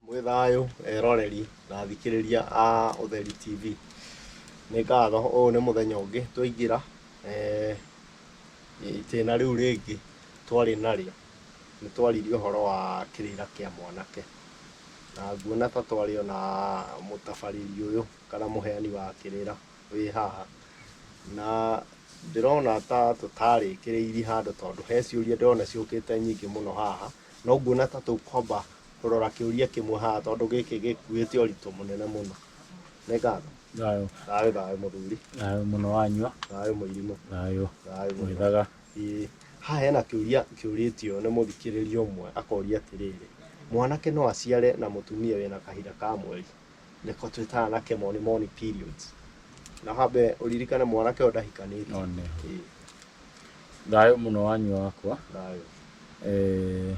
Mwĩ thayũ eroreri na athikĩrĩria a Ũtheri TV. Nĩ ngatho ũyũ nĩ mũthenya ũngĩ twaingĩra eh, itĩna rĩu rĩngĩ twarĩ narĩo. Nĩ twaririe ũhoro wa kĩrĩra kĩa mwanake. Na nguona ta twarĩ ona mũtabarĩri ũyũ kana mũheani wa kĩrĩra. wĩ haha, na ndĩrona ta tũtarĩkĩrĩirie handũ tondũ he ciũria ndĩrona ciũkĩte nyingĩ mũno haha, no nguona ta tũkwamba kũrora kĩũria kĩmwe haha tondũ gĩkĩ gĩkuĩte ũritũ mũnene mũno. Nĩ ngatho. Thayũ. Thayũ thayũ mũthuri. Thayũ mũno wanyua. Thayũ mũirimũ. Thayũ. Thayũ mũno. Mwĩthaga. Ĩĩ. Haha hena kĩũria kĩũrĩtio nĩ mũthikĩrĩria ũmwe akoria atĩrĩrĩ, mwanake no aciare na mũtumia wĩna kahinda ka mweri? Nĩko twĩtaga na kĩmoni moni periods. Na hambe ũririkane mwanake ũyũ ndahikanĩte. No nĩ. Ĩĩ, Thayũ mũno wanyu wakwa. thayũ. Eh,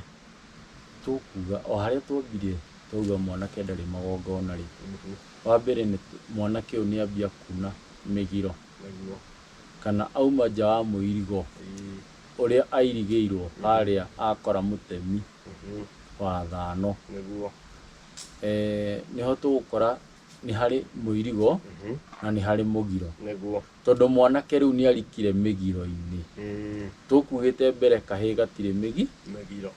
tũkuga o harĩa twambire twauga mwanake ndarĩ magongona rĩ Mhm, wa mbere nĩ mwanake ũyũ nĩ ambia kuna mĩgiro nĩguo. kana auma nja wa mũirigo Ĩĩ, ũrĩa airigĩirwo harĩa akora mũtemi mhm, wa thano nĩguo. eh, nĩho tũgũkora nĩ harĩ mũirigo Mhm. na nĩ harĩ mũgiro nĩguo tondũ mwanake rĩu nĩ arikire mĩgiro-inĩ Mm, tũkuugĩte mbere kahĩ gatirĩ mĩgi mĩgiro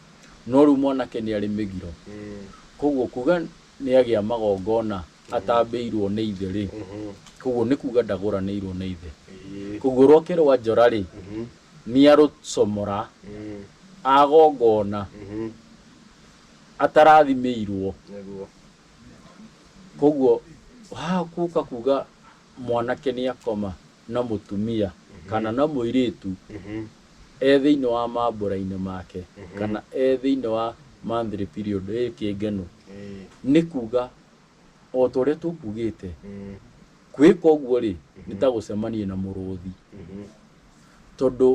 no rĩu mwanake nĩ arĩ mĩgiro Mm, koguo kuga nĩ agĩa magongona atambĩirwo nĩ ithe rĩ mhm. koguo nĩ kuga ndagũranĩirwo nĩ ithe Ĩĩ. koguo rwake rwa njora rĩ Mhm. nĩ arũcomora Mm, agongona mhm. atarathimĩirwo. Koguo haha gũka kuga mwanake nĩ akoma na mũtumia kana na mũirĩtu e thĩinĩ wa mambũra-inĩ make kana e thĩinĩ wa monthly period ĩ kĩngeno, nĩ kuga o ta ũrĩa tũkugĩte, gwĩka ũguo rĩ, nĩ ta gũcemania na mũrũthi tondũ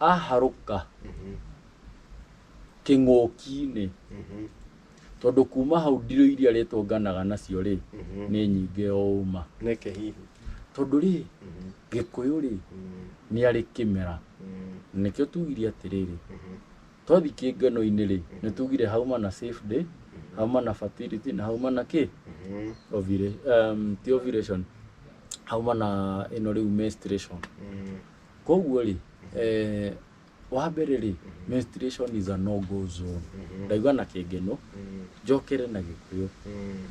aharũka. kĩng'ũki-inĩ tondũ kuma hau ndirũ iria rĩtũnganaga nacio rĩ nĩ nyingĩ o ũma nĩkĩ hihi tondũ rĩ gĩkũyũ rĩ nĩ arĩ kĩmera nĩkĩo tugire atĩrĩrĩ twathi kĩngano-inĩ rĩ nĩ tugire hauma na safe day hauma na fertility na hauma na kĩ Ovula- em, ti ovulation hauma na ĩno rĩu menstruation koguo rĩ eh, wa mbere rĩ menstruation is a no go zone ndaigua na kĩngeno njokere na gĩkũyũ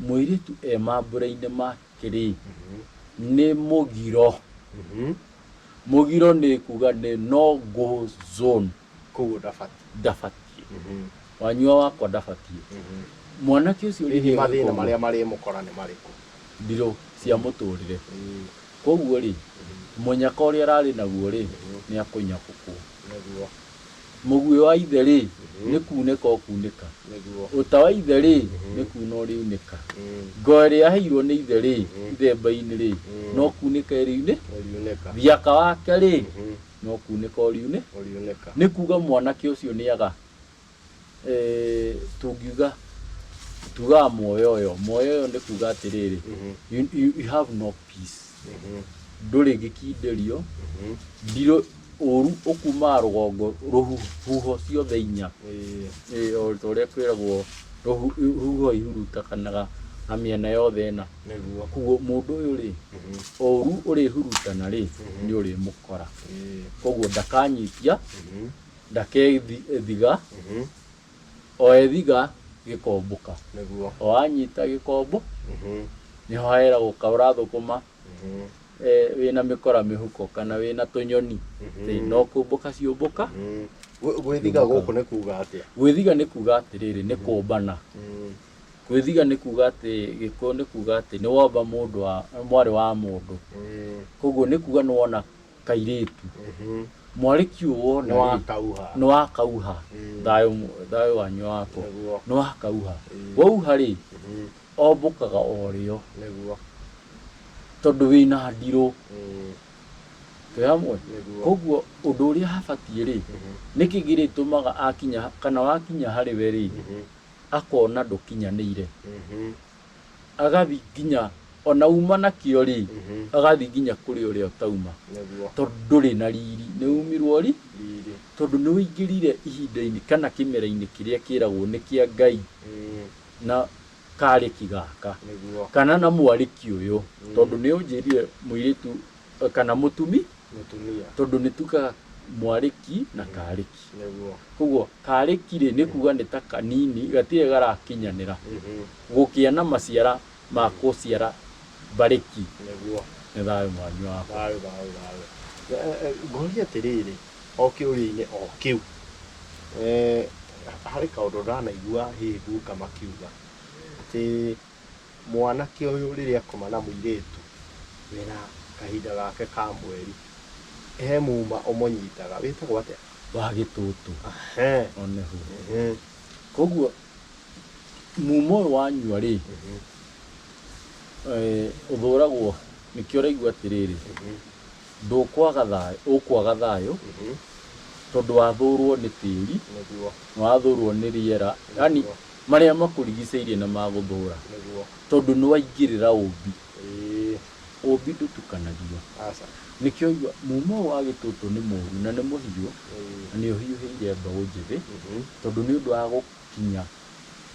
mũirĩtu e mambura-inĩ make rĩ nĩ mũgiro mũgiro nĩ kuga nĩ no go zone koguo ndabatiĩ ndabatiĩ wanyua wakwa ndabatiĩ mwanake ũcio hihi rĩrĩa mathĩna marĩa marĩmũkora nĩ marĩkũ ndirũ cia mũtũrĩre Kwoguo-rĩ, mũnyaka ũrĩa ararĩ naguo-rĩ, nĩakũnyakũkwo. Mũguĩ wa ithe-rĩ, nĩ kuunĩka ũkuunĩka. Ũta wa ithe-rĩ, nĩ kuuna ũrĩunĩka. Ngo ĩrĩa aheirwo nĩ ithe-rĩ, ithemba-inĩ-rĩ, no kuunĩka ĩriunĩka. Thiaka wake-rĩ, no kuunĩka ũriunĩka. Nĩ kuuga mwanake ũcio nĩaga. eh, tungiuga tugaga muoyo uyo muoyo uyo ni kuga atiriri you, you, you have no peace nduri gikindirio ndiro uru ukumaga rugongo ruhuho ciothe inya Eh, o ta uria kwiragwo ruhu- ruhuho ihurutakanaga na miena yothe ina niguo kuguo mundu uyu ri uru urihurutana ri ni urimukora koguo ndakanyitia ndakethiga Mhm. o ethiga gĩkombũka Nĩguo. o anyita gĩkombo Mhm. nĩho hahera gũkaũra thũkũma Mhm. eh, wĩna mĩkora mĩhuko kana wĩna tũnyoni Mhm. Ĩ, no kũmbũka ciũmbũka Mhm. Gwĩ- Gwĩthiga Nĩguo. gũkũ nĩ kuuga atĩa? gwĩthiga nĩ kuga atĩrĩrĩ nĩ kũmbana Mhm. gwĩthiga nĩ kuga atĩ gĩkũyũ nĩ kuga atĩ nĩ womba mũndũ wa mwarĩ wa mũndũ Mhm. koguo nĩ kuga nĩ wona kairĩtu mwarĩki ũũ wona nĩ wakauha nĩ wakauha Mm. thayũ mu- thayũ wanyu wakwa Nĩguo. nĩ wakauha Mm. wauha rĩ Mhm. ombũkaga o rĩo nĩguo tondũ wĩna ndirũ Mm. twĩ hamwe Nĩguo. koguo ũndũ ũrĩa habatiĩ rĩ Mhm. nĩkĩ gĩrĩtũmaga akinya kana wakinya harĩ we rĩ Mhm. akona ndũkinyanĩire Mhm. agathiĩ nginya ona uma nakĩo rĩ agathiĩ nginya kũrĩ ũrĩa ũtauma nĩguo tondũ ndũrĩ na riri nĩ umirwo ri riri tondũ nĩ ũingĩrire ihinda-inĩ kana kĩmera-inĩ kĩrĩa kĩragwo nĩ kĩa ngai Mm, na karĩki gaka nĩguo kana na mwarĩki ũyũ tondũ nĩ ũnjĩrire mũirĩtu kana mũtumi mũtumia tondũ nĩ tukaga mwarĩki na karĩki nĩguo koguo karĩki rĩ nĩ kuga nĩ ta kanini gatirĩ garakinyanĩra Mhm. gũkĩa na maciara ma gũciara mbarĩki nĩguo nĩ thayũ mwanyu wakwa thayũ thayũ thayũ Eh, eh, ngoria atĩrĩrĩ o kĩũria-inĩ o kĩu eh, harĩ kaũndũ ndanaigua hihi guka makiuga atĩ mwanake ũyũ rĩrĩa akoma na mũirĩtu wĩna kahinda gake ka mweri, he muma ũmũnyitaga, wĩtagwo atĩa? Wa gĩtũtũ. Ehe. O nĩho. Ehe. Koguo muma ũyũ wanyua rĩ, eh, ũthũragwo, nĩkĩo ũraigua atĩrĩrĩ, ndũkwaga thayũ, ũkwaga thayũ Mhm. tondũ wathũrwo nĩ tĩri, Nĩguo. wathũrwo nĩ rĩera, yani Nĩguo. Marĩa makũrigicĩirie na ma gũthũũra. Nĩguo. Tondũ nĩwaingĩrĩra ũũmbi. Ĩĩ. Ũũmbi ndũtukanagio. Aca. Nĩkĩo ũigua, Muuma ũyũ wa gĩtũtũ nĩ mũũru, na nĩ mũhiũ, Ĩĩ. na nĩũhiũhĩire mbeũ njĩthĩ, Mhm. tondũ nĩ ũndũ wa gũkinya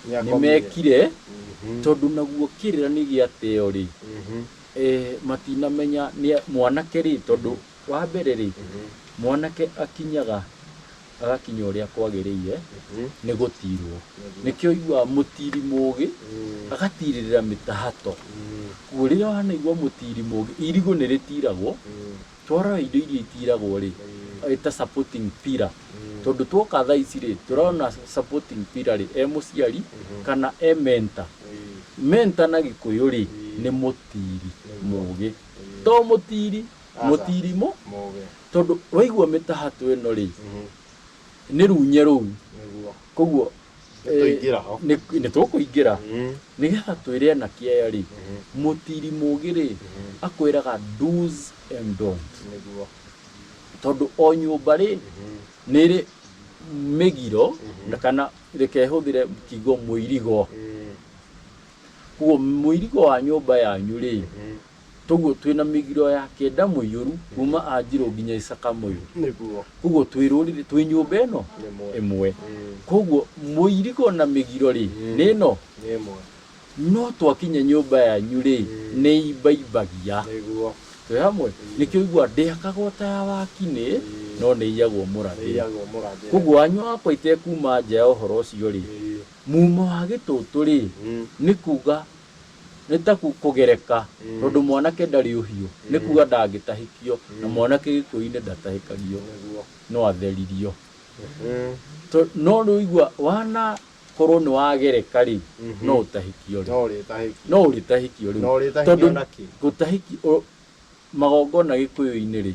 Nĩakomire. nĩmekire, Mhm. tondũ naguo kĩrĩra nĩ gĩa teo-rĩ, Mhm. eh, matinamenya nĩa, mwanake-rĩ, tondũ wa mbere-rĩ, Mhm. mwanake akinyaga. agakinya ũrĩa kwagĩrĩire nĩ gũtiirwo. Nĩkĩo ũiguaga mũtiiri mũũgĩ agatiirĩrĩra mĩtahato. Kwoguo rĩrĩa wanaigua mũtiiri mũũgĩ, irigũ nĩ rĩtiiragwo, twarora indo iria itiiragwo-rĩ, ĩta supporting pillar. Tondũ twoka thaa ici-rĩ, tũrona supporting pillar-rĩ, e mũciari kana e mentor. Mentor na gĩkũyũ-rĩ, nĩ mũtiiri mũũgĩ. To mũtiiri. Mũtirimũ, Mũgĩ. tondũ waigua mĩtahatũ ĩno rĩ, nĩ runye rũu. Nĩguo. Koguo Nĩtũingĩra ho. nĩ nĩ tũkũingĩra Mm. nĩgetha twĩre anake aya rĩ mũtiri mũgĩ rĩ akwĩraga do's and don't Nĩguo. tondũ o nyũmba rĩ nĩ ĩrĩ mĩgiro na kana reke hũthĩre kiugo mũirigo Mm. koguo mũirigo wa nyũmba yanyu rĩ Mm. Kwoguo twĩ na mĩgiro ya kĩenda mũiyũru kuuma Anjirũ nginya Isaka Mũyũ. Nĩguo. Kwoguo twĩ rũrĩrĩ, twĩ nyũmba ĩno Ĩmwe. ĩmwe. Ĩĩ. Kwoguo mũirigo na mĩgiro-rĩ, nĩ ĩno. Nĩ ĩmwe. No twakinya nyũmba yanyu-rĩ, nĩ ĩimbaimbagia. Nĩguo. Twĩ hamwe? Nĩkĩo ũiguaga, Ndĩakaga o ta ya wakinĩ, no nĩ ĩiyagwo Nĩ mũrathĩre. ĩiyagwo mũrathĩre. Kwoguo anyũ akwa itekuuma nja ya ũhoro ũcio-rĩ, Ĩĩ. muuma wa gĩtũtũ-rĩ, Mm. nĩ kuuga Nĩ ta kũgereka, tondũ mwanake ndarĩ ũhiũ, nĩ kuuga ndangĩtahĩkio, na mwanake gĩkũyũ-inĩ ndatahĩkagio, no atheririo. No rĩu igua, wanakorwo nĩ wagereka rĩ, no ũtahĩkio rĩ? No ũrĩtahĩkio rĩu. Tondũ gũtahĩkio, magongona gĩkũyũ-inĩ rĩ,